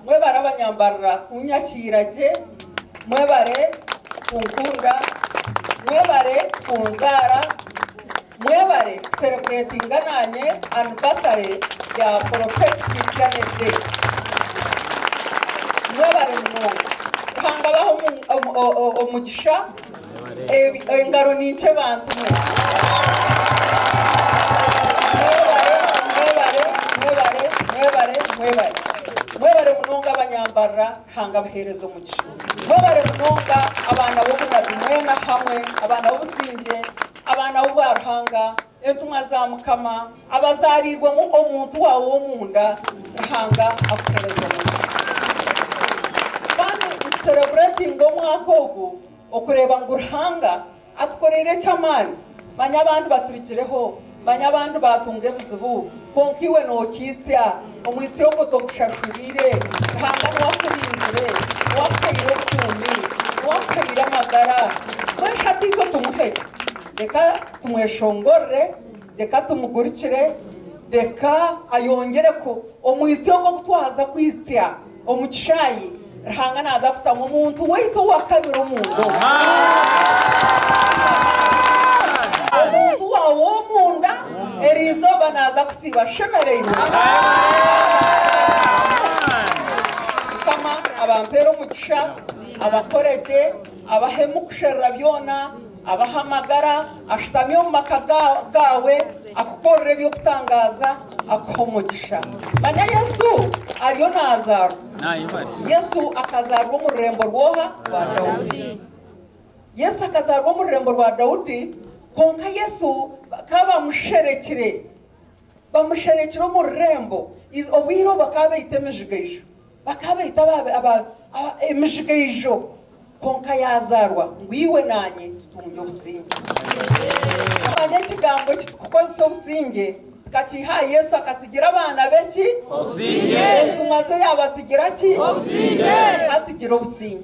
Mwebare abanyambarira kunyakiira gye, mwebare kunkunda, mwebare kunzaara, mwebare kusereburetinga naanye anivasare ya Prophet Christianity Day. Mwebare munonga. Ruhanga abahe omugisha. Engaro ninkye bantu mwe. Mwebare, mwebare, mwebare, mwebare, mwebare. Mwebare munonga abanyambarira, Ruhanga abaheereze omugisha. Mwebare munonga abaana b'obunabi mwena hamwe, abaana b'obusingye, abaana b'obwa Ruhanga, Entumwa za Mukama abazaariirwemu omuntu waawe w'omunda, Ruhanga akuhereze omugisha. Kandi nitusereburetinga omwaka ogu okureeba ngu Ruhanga atukoreire eky'amaani, manya abandi baturigireho, manya abandi baatunga ebizibu kwonka iwe nookiitsya, omwitsyo ogwo togushashuriire, Ruhanga niwe akurinzire, niwe akuhaire obukuumi, niwe akuhaire amagara, mbwenu hati itwe tumuhe gye. Tumweshongorere, reka tumugurikire, reka ayongyere ku omwitsyo ogwo ogu twaza kwitsya omu kishaayi, Ruhanga naaza kutamu omuntu waitu owa kabiri omunda omu omuntu waawe ow'omunda, eri izooba naaza kusiiba ashemereirwe. Mukama abampere omugisha, abakore gye, abahemu kusherura byona. Abaho amagara, ashutami omu maka gaawe, akukorere eby'okutangaaza, akuhe omugisha. Manya Yesu ariyo naazaarwa. Yesu akazaarwa omu rurembo rw'oha? Rwa Daudi. Yesu akazaarwa omu rurembo rwa Daudi, kwonka Yesu bakaba bamusherekire. Bamusherekire omu rurembo, obwire obu bakaba baita emijigaijo. Bakaba baita emijigaijo kwonka yaazaarwa ngu iwe naanye tutungye obusingye. Manya ekigambo eki turikukozesa obusingye tukakiiha aha Yesu akatsigira abaana be ki? Obusingye. Entumwa ze yaabatsigira ki? Obusingye. Ka tugire obusingye.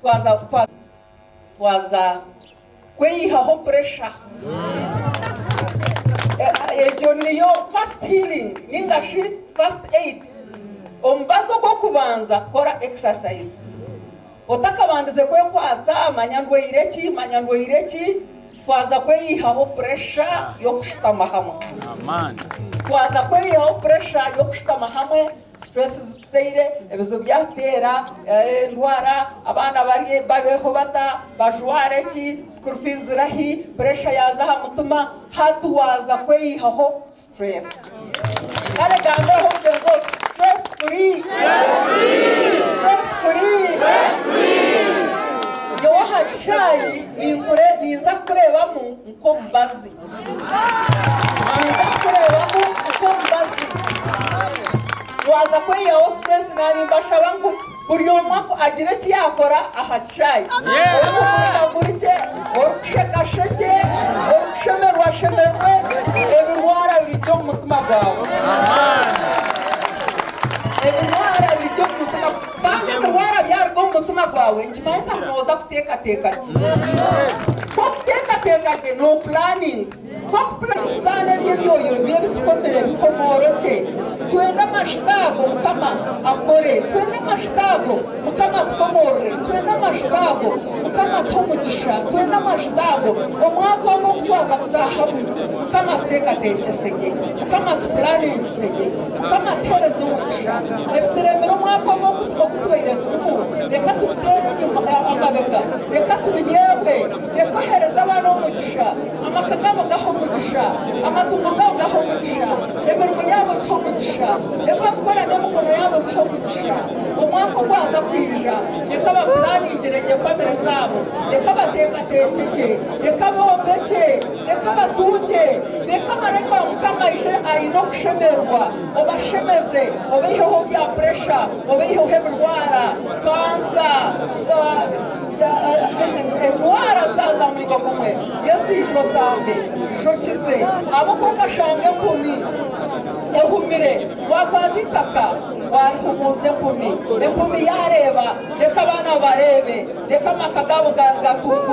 Twaza kukwa twaza kweyihaho puresha. Egyo niyo first healing ninga shi first aid. Omubazi ogw'okubanza kukora exercise. Otakabandize kwekwatsa manya ndwaire ki manya ndwaire ki. Twaza kweyihaho puresha y'okushutama hamwe. Twaza kweyihaho puresha y'okushutama hamwe Stress zituteire, ebizibu byatuteera, endwara, abaana babeeho bata, bajware ki, school fees ziri ahi, pressure yaaza aha mutima, hati waaza kweyihaho stress. Kare gambeeho mugyenzi ogwo stress free. Stress free. Nyowe aha kishaayi ninkure, ninza kukureebamu nk'omubazi. Ninza kukureebamu nk'omubazi. Waaza kweyihaho situreesi naanye mbashaba ngu buri omwe agire eki yaakora aha kishaayi. Orikugurika gurikye, orikusheka shekye, orikushemerwa shemerwe, ebirwara bigye omu mutima gwawe. Ebirwara bigye omu mutima, kandi ebirwara byaruga omu mutima gwawe, Nikimanyisa ngu nooza kuteekateeka gye. Ku orikuteekateeka gye, noopulaaninga. Ku orikupula. Sitaane eby'emyoyo ebibi ebi tukomire bikomooro kye. Twende amashuta ago, Mukama, akore. Twende amashuta ago, Mukama, atukomoorere. Twende amashuta ago, Mukama, atuhe omugisha. Twende amashuta ago, omwaka onu ogu twaza kutaahamu, Mukama, atuteekateekyese gye. Mukama, atupulaaningise gye. Mukama atuhereze omugisha. Ebituremire omwaka ogu ogu tubaire turimu, reka tubiteere amabega, reka tubireebe, reka ohereze abaana omugisha, amaka gaabo gahe omugisha, amatungo gaabo gahe omugisha, emirimo yaabo egihe omugisha, ebi barikukora n'emikono yaabo bihe omugisha. Omwaka ogwaza kwija, reka bapuraaningire gye famire zaabo, reka bateekateeke gye, reka bombekye. Reka batunge, reka Mareka wa Mukama aije aine okushemererwa, obashemeze, obaiheho bya puresha, obaiheho ebirwara, kansa, endwara zitari za muringo gumwe. Yesu ija otambe, ija okize. Abo ku okashanga enkumi ehumire, waakwata eitaka waarihumuuza enkumi, enkumi yaareeba, reka abaana bareebe, reka amaka gaabo gatunguukye.